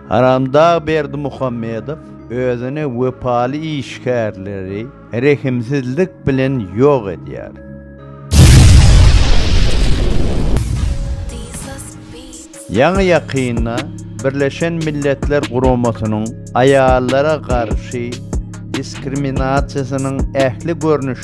Haramdag Berdimuhamedow özüne wepaly işgärleri rehimsizlik bilen ýok edýär. Ýaňy-ýakynda Birleşen Milletler Guramasynyň aýallara garşy diskriminasiýasynyň ähli görnüşlerini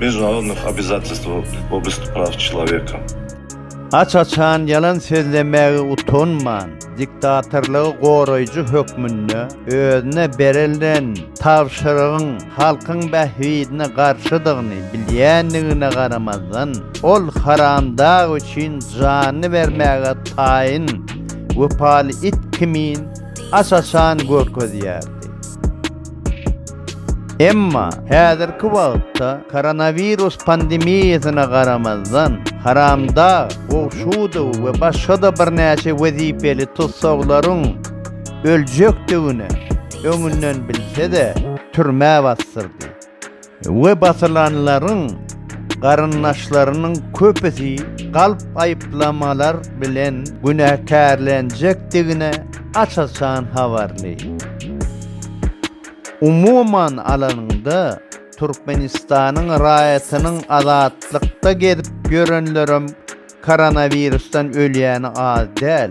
Межdunarodnych obizatistw w oblsti praw çloweka. Aç-açan ýalan sözlemäge utanman, diktatorlygy goraýjy hökmünde özüne berilen tabşyrygyň halkyň bähbidine garşydygyny bilýändigine garamazdan, ol haramdag üçin janyny bermäge taýyn wepaly it kimin aç-açan görkezýärdi. Emma häzirki wagtda koronawirus pandemiýasyna garamazdan, Haramdag Gowşudow we başga-da birnäçe wezipeli tussaglaryň öljekdigini öňünden bilse-de, türmä basdyrdy. we basylanlaryň garyndaşlarynyň köpüsi galp aýyplamalar bilen günäkärlenjekdigine aç-açan habarly. Umuman alanyňda, Türkmenistanyň raýatynyň azatlykda gezip ýörenlerem koronawirusdan ölýäni az däl.